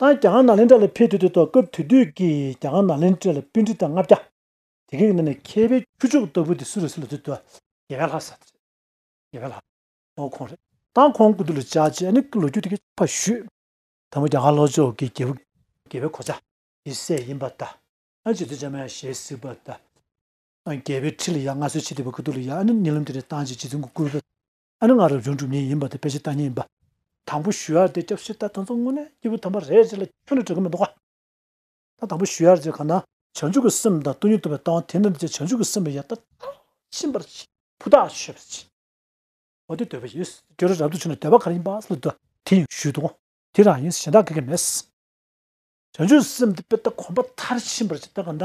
ཏང་གི་རྒྱ་གར་ནག་ལྷན་ཁྲ་ལ་ཕེབས་ཐུག་དུས་ཐོག་སྐབས་དུས་དུས་ཀྱི་རྒྱ་གར་ནག་ལྷན་ཁྲ་ལ་དཔེ་འབྲི་དང་ལྔ་བརྒྱ། དེ་གའི་ནང་ནས་མཁས་པའི་ཁྱུ་མཆོག་ལྟ་བུ་དེ་སུ་རེད་ཟེར་ལ་དུས་དུས་རྒྱལ་ཁ་ལྷ་ས་དེ་རེད། རྒྱལ་ཁ་ལྷ། འོ་ཁོང་རེད། ཏང་ཁོང་སྐུ་དུས་ལ་བཅར་རྗེས་ཨ་ནི་ཀྱི་ལོ་རྒྱུས་དེ་གས་ཕ་ཞུས། དང་པོ་རྒྱ་གར་ལྷོ་ཕྱོགས་ཀྱི་རྒྱལ་བུ། རྒྱལ་བའི་གོ་ཆ། ཡི་སྲས་ཡིན་པ་དང། ཨ་ནི་རྗེ་བཙུན་འཇམ་དབྱངས་ཞལ་གཟིགས་པ་དང། རྒྱལ་བའི་ཁྲི་ལ་ཡང་སྔ་སྲོལ་ཕྱེས་དེ་བས་སྐུ་དུས་ལ་ཡང་ཨ་ནི་ཉེ་ལམ་དུས་ནས་ཏང་གི་རྗེ་བཙུན་གྱི་སྐུ། ཨ་ནི་ང་རབ་བྱུང་གྲུབ་བརྙེས་ཡིན་པ་དེ་དཔེ་ཆའི་བལྟ་ཉན་ཡིན་པ། དང་པོ་ཞུ་ཡར་རྗེ་སྐྱབས་ཤེར་ལྟར་དོན་རྩ་དངོས་ནི་སྐྱེས་བུ་དམ་པ་རེད་ཅེས་ལ་ཁྱོད་ལ་དྲི་གི་མི་འདུག་ག། ད་དང་པོ་ཞུ་ཡར་རྗེ་གང་ན། བྱང་ཆུབ་ཀྱི་སེམས་དང་བསྟུན་ཉིད་ཐོབ་པའི་སྟངས་དེ་འདྲ་ནི་བྱང་ཆུབ་ཀྱི་སེམས་ལ་ཡང་དག་མཐར་ཕྱིན་པར་བྱེད། ཕུ་ཐག་ཆོད་པར་བྱེད། འོ་དེ་འདོད་པ་ཡོད་སྲིད་དེ་ཁྱོད་རང་རབ་ཏུ་བྱུང་ནས་འདོད་པ་ག་རེ་ཡིན་པ་ལ་འདོད་པ་དེ་ཡང་ཞུས་འདུག་གོ། དེ་རང་ཡིན་གཞན་དག་གི་གི་མེད། བྱང་ཆུབ་སེམས་དེ་དཔེ་ལྟ་གོམས་པ་མཐར་ཕྱིན་པར་བྱེད་ད་གང་ན།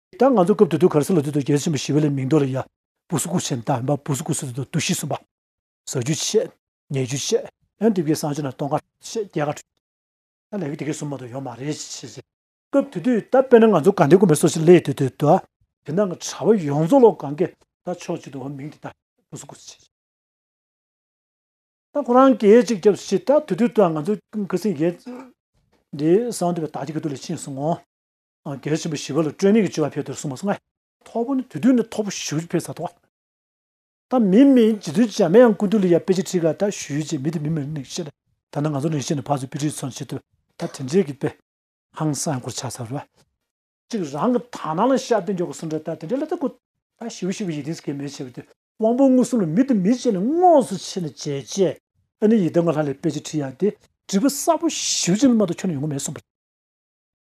ད་ང་ཚོ་སྐབས་དུ་དུ་གར་སི་ལ་དུས་དང་རྒྱལ་ཆེན་པོ་ཞི་བའི་ལའི་མིང་འདོགས་ལ་ཡ། བུ་སུ་ཀུ་ཆེན་དང་འབའ་བུ་སུ་ཀུ་སུ་དུ་དུ་དུ་ཤི་གསུམ་པ། ཟ་རྒྱུ་ཆེ། ཉལ་རྒྱུ་ཆེ། ཡང་དེབ་ཀྱི་སང་ཆུ་ན་སྟོང་ཁ་ཆེ་བརྒྱད་ཁ་དྲུག། ད་ལས་ཀྱི་དེ་གའི་སུ་མ་དུ་ཡོང་མ་རེད་ཅེས་བཤད་ཅེས། སྐབས་དུ་དུ་ད་དཔེར་ན་ང་ཚོ་གང་དེབ་དགོན་པའི་སོ་ཞི་ལའི་དུས་དུ་དུ་ཨ། དེ་འདང་གི་གྲ་བ་ཡོངས་རྫོགས་ལོག་གང་གིས་ད་ཕྱོགས་གཅིག་དུ་འོ་མིང་དེ་ད་བུ་སུ་ཀུ་སུ་ཆེན། ད་ཁོ་རང་གིས་གཅིག་རྒྱབ་སུ་ཤི་ད་དུ་དུ་དུ་ཨ་ང་ཚོ་ཀི་སིང་གིས། འདི་སང་དུ་བའི་དག་སྐྱིད་ཀྱི་དུ་ལས་ཕྱིན་སོང་ངོ། གལ་ཆེན་པོ་བཞི་བ་ལ་སྤྲོས་མེད་ཀྱི་སྤྱོད་པ་འཕེལ་དུ་གསུངས་པ་སོགས་ལྔ། ཐོག་པོ་ནི་དུས་དུས་ནས་ཐོག་པོ་ཞུ་བྱེད་འཕེལ་ས་དོགས། ད་མི་མི་རྗེ་དུས་བྱ་མེ་ཡང་ཀུན་ཏུ་ལི་ཡ་དཔེ་ཆེ་ཁྲིག་ལ་ད་ཞུས་བྱེད་མི་དེ་མི་མི་རིག་ནས་བཤད་ལ་ད་ནང་ང་ཚོ་རིང་ཤས་ནས་ཕར་ཚུར་དཔེ་ཁྲིག་ཚོན་བྱེད་དུ་ད་དེ་འདྲའི་གི་དཔེ། ཧང་སང་གོར་ཆགས་ས་རུ། ཅིག་རང་གི་དག་སྣང་ལ་ཤར་དུ་འཇོག་གི་གསུངས་འདྲ་ད་དེ་འདྲའི་ལ་ད་ཀུ་ད་ཞུས་བྱེད་པའི་ཡིད་དེངས་གལ་མེད་ཆེ་བ་དེ་དབང་པོ་མངོན་སུམ་ལ་མི་དེ་མི་བྱེད་ནས་དངོས་སུ་ཕྱེ་ནས་བྱེད་ཅེས་ཨ་ནི་ཡི་དམ་ག་ལྷ་ལས་དཔེ་ཆེ་ཁྲིག་ཡ་དེ་བྲིས་པ་གསར་པོ་ཞུས་བྱེད་ལ་མ་ཏོག་ཁྱོད་ནས་ཡོང་གི་མེད་གསུངས་པ།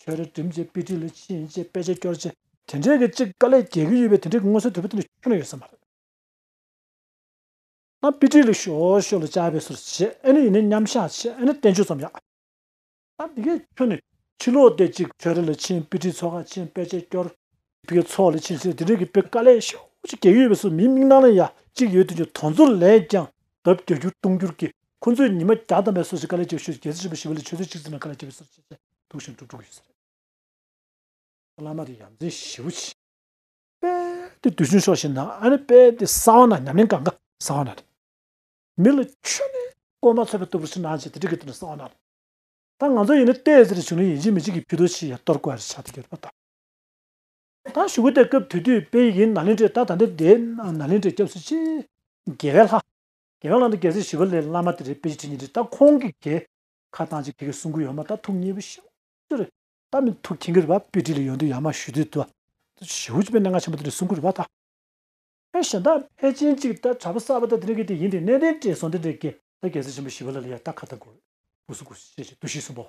ཆོས་རའི་སྒྲིམ་བྱེད་དཔེ་ཁྲིད་ལས་ཕྱིན་ཡིན་ཅེས་དཔེ་ཆའི་སྐྱོར་རྗེ། དེ་འདྲའི་གི་ཅིག་དཀའ་ལས་རྒྱལ་གྱི་ཡོད་པའི་དེ་འདྲའི་གི་མངོན་གསལ་དོད་པོ་དེ་འདྲ་ཁྱོད་ན་ཡོད་ས་མ་རེད། ཨ་དཔེ་ཁྲིད་ལས་ཤོ་ཤོ་ལ་བཅའ་བའི་སོར་བྱེད་ཨེ་ནི་ཡིན་ནའི་མཉམ་བཞག་བྱེད་ཨེ་ནི་བསྟན་བཅོས་ཙམ་ཡག། ཨ་འདི་གས་ཁྱོད་ནས་ཕྱི་ལོག་སྟེ་ཅིག་ཆོས་ར་ལས་ཕྱིན་དཔེ་ཁྲིད་ཚོ་ཁ་ཕྱིན་དཔེ་ཆའི་སྐྱོར། དེ་གའི་ཚོགས་ལ་ཕྱིན་ཚེ་དེ་འབྲེལ་གྱི་དཔེ་དཀའ་ལས་ཤོག་ཅིག་གེགས་ཡོད་པས་སུ་མིའི་མིག་ནང་ན་ཡ་གཅིག་ཡོད་དོན་གྱི་དོན་ཚོར་ལས་ཀྱང་ལྡབ་བརྒྱ་འགྱུར་སྟོང་འགྱུར་གྱིས་ཁོ་ཚོའི་ཉི་མ་བརྒྱ་ཐམ་པའི་སོ་སོའི་དཀའ་ལས་ཀྱི་ཤོག་ཅིག་གེགས་སེལ་བྱེད་པར་ཞི་བ་ལས་ཆོས་ཚོད་གཅིག་ཙམ་ཡང་དཀའ་ལས་བྱེད་པའི་སོར་ཆུད་ཚད་དུག་བཞིན་དུ་འགྲོ་གི་ཡོད། བླ་མ་དེ་ཡ་མཚན་ཞེ་བོ་ཆེ། དཔལ་དེ་དུས་ཆུང་ཤོག་ཤིག་ན་ཨ་ནི་དཔལ་དེ་གསང་བ་ན་ཉམས་ལེན་གང་ག་གསང་བ་ན་རེད། མི་ལ་ཆོས་ནི་བསྐོར་མ་ཚོས་པ་ལྟ་བུར་ཕྱི་ནང་བྱས་དེ་འབྲེལ་གྱི་དོན་ནི་གསང་བ་ན་རེད། ད་ང་ཚོ་ཡིན་ན་ལྟས་ཟེར་བྱུང་ནས་ཡིན་གཅིག་མིན་གཅིག་གིས་ཕུད་དོ་ཆིག་ཡ་གཏོར་དགོས་རེད་ཆགས་ཏེ་གྱུར་པ་དང། ད་ཞུ་བོ་དེ་སྐབས་དུས་དུས་དཔེ་ཡིན་ན་ལིན་ཀྲི་ད་ད་འདི་དེ་ན་ལིན་ཀྲི་སྐྱབས་སུ་མཆི། རྒྱལ་བའི་ལྷ། རྒྱལ་བའི་ལྷ་འདི་གལ་སྲིད་ཞི་བ་ལའི་བླ་མ་དེ་རེད་དཔེ་ཅི་ཁྲི་ཉི་ཁྲི་ད་ཁོང་གི་གེ། ཁ་བཏང་ཅིག་ཁྱེད་ཀྱི་གསུང་གུ་ཡོད་མ་ད་ཐུགས་མཉེས་པོ་ཤོག། ཅི་རེད། ད་མི་ཐུགས་ཁྱེད་ཀྱི་རེད་བ་དཔེ་ཁྲི་ལ་ཡོང་དུས་ཡག་མ་ཞུ་དུས་ད། ཞི་བོ་ཅི་པའི་གནད་འགག་ཆེན་པོ་དེ་རེད་གསུང་གུ་རེད་བ་ད། ཕལ་ཞེན་ད་ཕལ་ཆེན་ཅིག་ད་དྲ་བ་གསར་བ་ད་དེ་ནས་གི་དེ་ཡིན་དེ་ནས་དེ་དྲས་སོང་དེ་འདྲས་གེ་ད་གལ་སྲིད་ཆེན་པོ་ཞི་བ་ལ་ལ་ཡ་ད་ཁ་ད་གོ། གུ་སུ་གུ་སུ་ཤེས་ཤེས་དུ་ཤེས་གསུང་པའོ།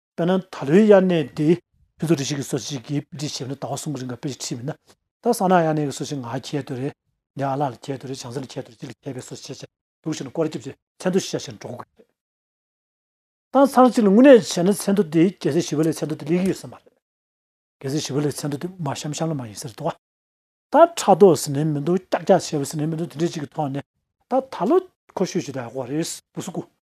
དཔེར་ན་ད་ལོའི་དབྱར་གནས་དེ་ཕུན་ཚོགས་སྒྲིག་གཞི་གི་སྲོལ་ཞིག་གིས་དཔེ་ཁྲིད་བྱས་ན་ཟླ་བ་གསུམ་གྱི་རིང་གི་དཔེ་ཆ་ཁྲིད་མིན་ན། ད་བསམ་ན་དབྱར་གནས་ཀྱི་སྲོལ་ཞིག་ང་ཁྱེད་དོད་རེད། ངའི་ཨ་ལགས་ལ་ཁྱེད་དོད་རེད་བྱང་སེམས་ལ་ཁྱེད་དོད་རེད་ཅིག་ལ་ཁྱེད་དཔེ་སྲོལ་ཆེ་ཆེ་འདུག་ཞེས་ན་སྐོར་སྐྱོབ་ཀྱི་མཚན་མཐོ་ཤིག་བཞག་བཞིན་འགྲོ་དགོས་ཀྱི་རེད། དང་ཚང་གཅིག་ལ་དངོས་གནས་བྱས་ན་མཚན་མཐོ་དེ་རྒྱལ་སའི་ཞི་བ་ལས་མཚན་མཐོ་དེ་ལེགས་ཡོད་ས་མ་རེད། རྒྱལ་སའི་ཞི་བ་ལས་མཚན་མཐོ་དེ་མ་ཤམ་ཤམ་ལ་མ་ཡིན་ས་རེད་དོ། ད་ཕྲག་དོག་ཟེར་ནས་མི་འདུག་སྐྱག་སྐྱག་བྱས་པ་ཟེར་ནས་མི་འདུག་དེ་འདྲས་ཅིག་གི་ཐོག་ནས་ད་ད་ལོ་ཁོ་ཤོད་ཤོད་དེ་ཨ་ཁོ་རེད་སྤུ་སུ་ཀུ།